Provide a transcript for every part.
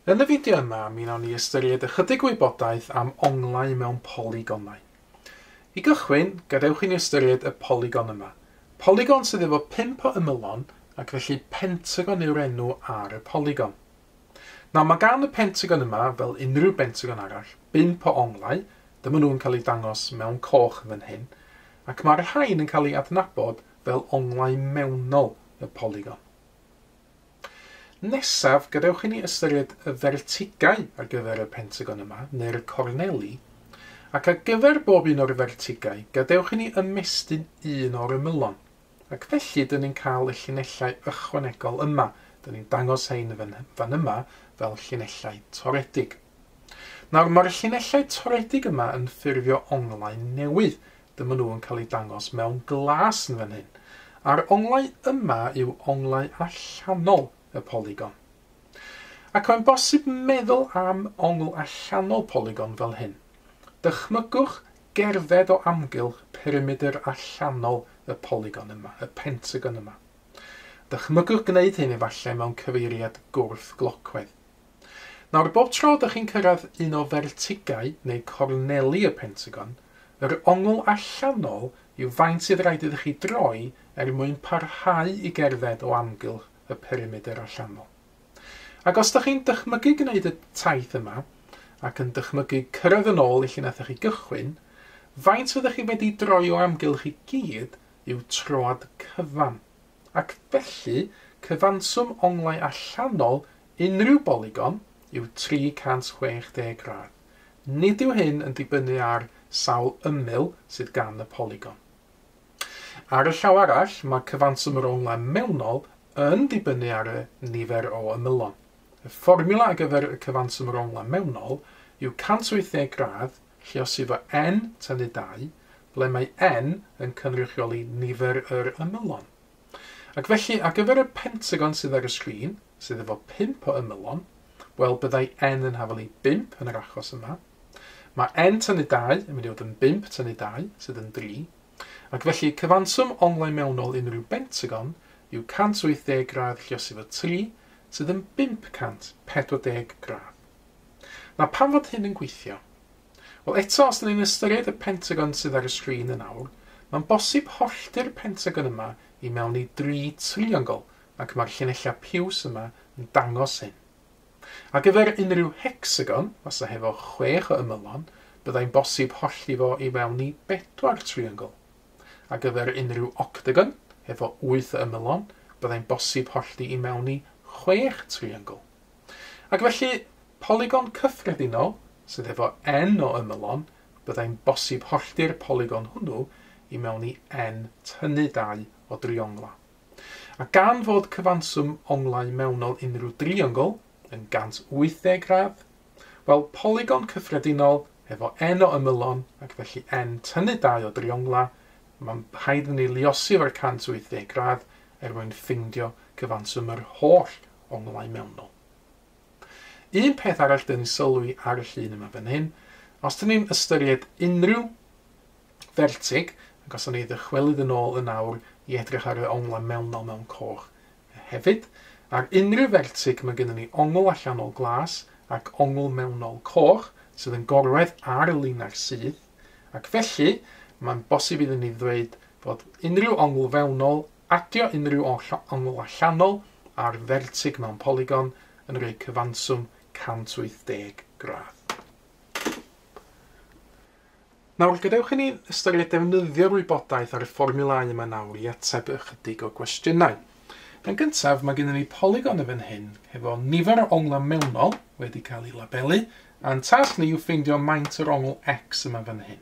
Yn y fideo yma, mi wnawn ni ystyried ychydig o wybodaeth am onglau mewn polygonau. I gychwyn, gadewch i ni ystyried y polygon yma. Polygon sydd efo pump o ymylon, ac felly pentagon yw'r enw ar y polygon. Nawr, mae gan y pentagon yma, fel unrhyw bentagon arall, bump o onglau, dyma nhw'n cael eu dangos mewn coch fan hyn, ac mae'r rhain yn cael eu adnabod fel onglau mewnol y polygon. Nesaf, gadewch i ni ystyried y fertigau ar gyfer y pentagon yma, neu'r corneli, ac ar gyfer bob un o'r fertigau, gadewch i ni ymestyn un o'r ymylon. Ac felly, dyn ni'n cael y llinellau ychwanegol yma, dyn ni'n dangos hein fan, fan yma fel llinellau toredig. Nawr, mae'r llinellau toredig yma yn ffurfio onglau newydd, Dyma nhw yn cael eu dangos mewn glas yn fan hyn. A'r onglau yma yw onglau allanol y polygon. Ac mae'n bosib meddwl am ongl allanol polygon fel hyn. Dychmygwch gerdded o amgylch perimedr allanol y polygon yma, y pentagon yma. Dychmygwch gwneud hyn efallai mewn cyfeiriad gwrth-glocwedd. Nawr, bob tro dych chi'n cyrraedd un o fertigau neu gorneli y Pentagon, yr ongl allanol yw faint sydd raid iddo chi droi er mwyn parhau i gerdded o amgylch y perimedr allanol. Ac os dych chi'n dychmygu gwneud y taith yma, ac yn dychmygu cyrraedd yn ôl i lle nathoch chi gychwyn, faint fyddwch chi wedi droi o amgylch i gyd yw troad cyfan, ac felly cyfanswm onglau allanol Unrhyw bolygon yw 360 gradd. Nid yw hyn yn dibynnu ar sawl ymyl sydd gan y polygon. Ar y llaw arall, mae cyfanswm yr onglau mewnol yn dibynnu ar y nifer o ymylon. Y fformiwla ar gyfer y cyfanswm yr onglau mewnol yw 180 gradd lluosifo n tynnu 2, ble mae n yn cynrychioli nifer yr ymylon. Ac felly, ar gyfer y Pentagon sydd ar y sgrin, sydd efo pump o ymylon, wel, byddai N yn hafal i bump yn yr achos yma. Mae N tynnu dau yn mynd i fod yn bump tynnu dau, sydd yn dri. Ac felly, cyfanswm onglau mewnol unrhyw Bentagon yw 180 gradd lliosi fo tri, sydd yn 540 gradd. Nawr, pam fod hyn yn gweithio? Wel, eto, os 'dyn ni'n ystyried y Pentagon sydd ar y sgrin yn awr, mae'n bosib hollti'r Pentagon yma i mewn i dri triongl, ac mae'r llinellau piws yma yn dangos hyn. Ar gyfer unrhyw hecsagon, fasa hefo chwech o ymylon, byddai'n bosib hollti fo i fewn i bedwar triongl. Ar gyfer unrhyw octagon, hefo wyth o ymylon, byddai'n bosib hollti i mewn i chwech triongl. Ac felly, polygon cyffredinol sydd efo N o ymylon, byddai'n bosib hollti'r polygon hwnnw i mewn i N tynnu dau o driongla. A gan fod cyfanswm onglau mewnol unrhyw driongl yn 180 gradd, wel, polygon cyffredinol efo N o ymylon ac felly N tynnu dau o driongla, mae'n rhaid ni luosi efo'r 180 gradd er mwyn ffeindio cyfanswm yr holl onglau mewnol. Un peth arall dyn ni'n sylwi ar y llun yma fan hyn, os dyn ni'n ystyried unrhyw fertig, ac os o'n ni ddychwelyd yn ôl yn awr i edrych ar y onglau mewnol mewn coch hefyd, ar unrhyw fertig mae gennym ni ongl allanol glas ac ongl mewnol coch sydd yn gorwedd ar y linell syth, ac felly mae'n bosib iddyn ni ddweud fod unrhyw ongl fewnol Adio unrhyw oll ongl allanol ar fertig mewn polygon yn rhoi cyfanswm 180 gradd. Nawr, gadewch i ni ystyried defnyddio'r wybodaeth ar y fformiwlau yma nawr i ateb ychydig o gwestiynau. Yn gyntaf, mae gennym ni polygon yn fan hyn hefo nifer o onglau mewnol wedi cael eu labelu, a'n tasg ni yw ffeindio maint yr ongl X yma fan hyn.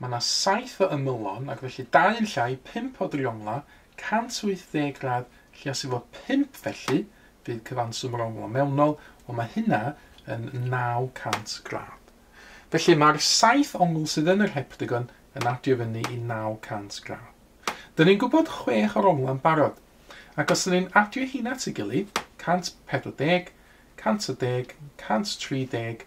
Mae yna saith o ymylon ac felly dau yn llai, pump o driongla, 180 gradd lliasu fo pump felly bydd cyfanswm yr onglau mewnol, wel mae hynna yn 900 gradd. Felly mae'r saith ongl sydd yn yr heptagon yn adio fyny i 900 gradd. Dyn ni'n gwybod chwech o'r onglau yn barod, ac os dyn ni'n adio hyn at ei gilydd, 140, 110, 130,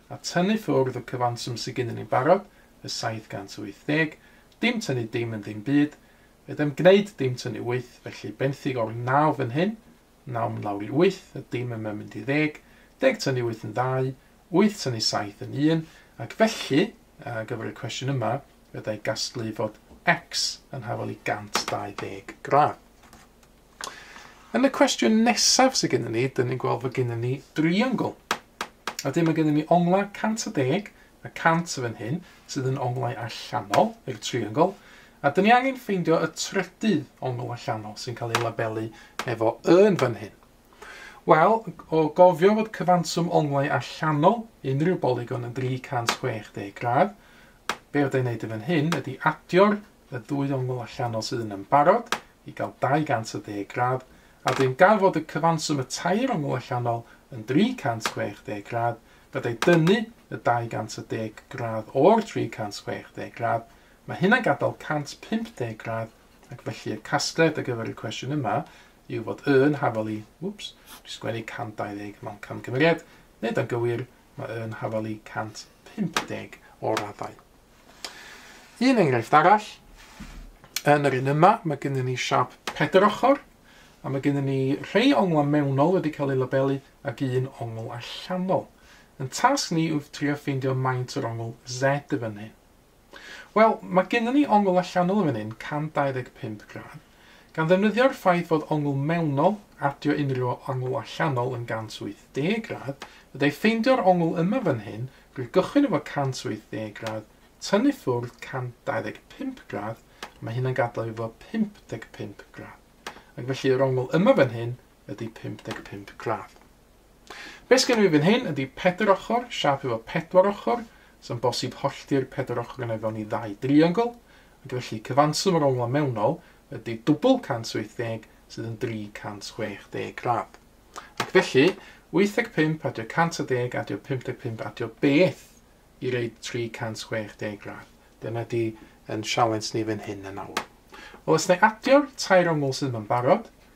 a tynnu ffwrdd y cyfanswm sy gennyn ni'n barod, y 780, dim tynnu dim yn ddim byd, fedrai'm gneud dim tynnu wyth, felly benthyg o'r naw fan hyn, naw yn lawr i wyth, y dim yma'n mynd i ddeg, deg tynnu wyth yn ddau, wyth tynnu saith yn un, ac felly, ar gyfer y cwestiwn yma, fedra'i gasglu fod X yn hafal i 120 gradd. Yn y cwestiwn nesaf sydd gennym ni, dyn ni'n gweld fod gennym ni driongl. A dyma gennym ni onglau 110 a 100 fan hyn, sydd yn onglau allanol i'r triongl, a dyn ni angen ffeindio y trydydd ongl allanol sy'n cael ei labelu efo yn fan hyn. Wel, o gofio fod cyfanswm onglau allanol unrhyw bolygon yn 360 gradd, be fydda i'n neud yn fan hyn ydy adio'r y ddwy ongl allanol sydd yn ymbarod i gael 210 gradd, a dyn ganfod y cyfanswm y tair ongl allanol yn 360 gradd, byddai dynnu y 210 gradd o'r 360 gradd, mae hynna'n gadael 150 gradd, ac felly y casgliad ar gyfer y cwestiwn yma yw fod yn hafal i, wps, sgwennu 120 mewn camgymeriad, nid yn gywir, Mae yn hafalu 150 o raddau. Un enghraifft arall, yn yr un yma, mae gennym ni siap pedr ochr, a mae gennym ni rhai onglau mewnol wedi cael eu labelu ac un ongl allanol. Yn tasg ni yw trio ffeindio maint yr ongl Z y fan hyn. Wel, mae gennym ni ongl allanol yn fan hyn, 125 gradd. Gan ddefnyddio'r ffaith fod ongl mewnol, adio unrhyw ongl allanol yn 180 gradd, fydda i ffeindio'r ongl yma fan hyn, rwy'n gychwyn efo 180 gradd, tynnu ffwrdd 125 gradd, a mae hynna'n gadael fi efo 55 gradd. Ac felly yr ongl yma fan hyn ydy 55 gradd. Beth sgynno fi fan hyn ydy pedr ochr, siap efo pedwar ochr, sy'n bosib hollti'r pedwar ochr yn efo ni ddau driongl, ac felly cyfanswm yr onglau mewnol ydy dwbl 180 sydd yn 360 gradd. Ac felly, 85 adio 110 adio 55 adio beth i reid 360 gradd. Dyna di yn sialens ni fan hyn yn awr. Wel, os na i adio'r tair ongl sydd yma'n barod,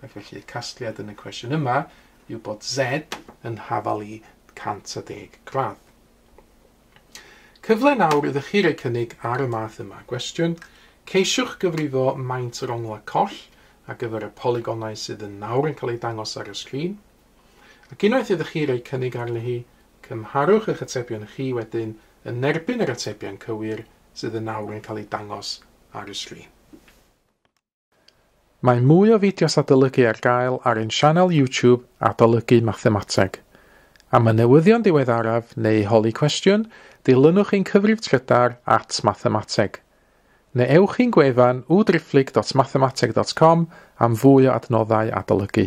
Ac felly y casgliad yn y cwestiwn yma yw bod Z yn hafal i 110 gradd. Cyfle nawr ydych chi roi cynnig ar y math yma gwestiwn. Ceisiwch gyfrifo maint yr onglau coll ar gyfer y polygonau sydd yn nawr yn cael eu dangos ar y sgrin. Ac unwaith ydych chi roi cynnig arni hi, cymharwch eich atebion chi wedyn yn erbyn yr atebion cywir sydd yn nawr yn cael eu dangos ar y sgrin. Mae mwy o fideos adolygu ar gael ar ein sianel YouTube Adolygu Mathemateg. Am y newyddion diweddaraf neu holi cwestiwn, dilynwch ein cyfrif trydar at Mathemateg. Neu ewch i'n gwefan www.driphlyg.mathemateg.com am fwy o adnoddau adolygu.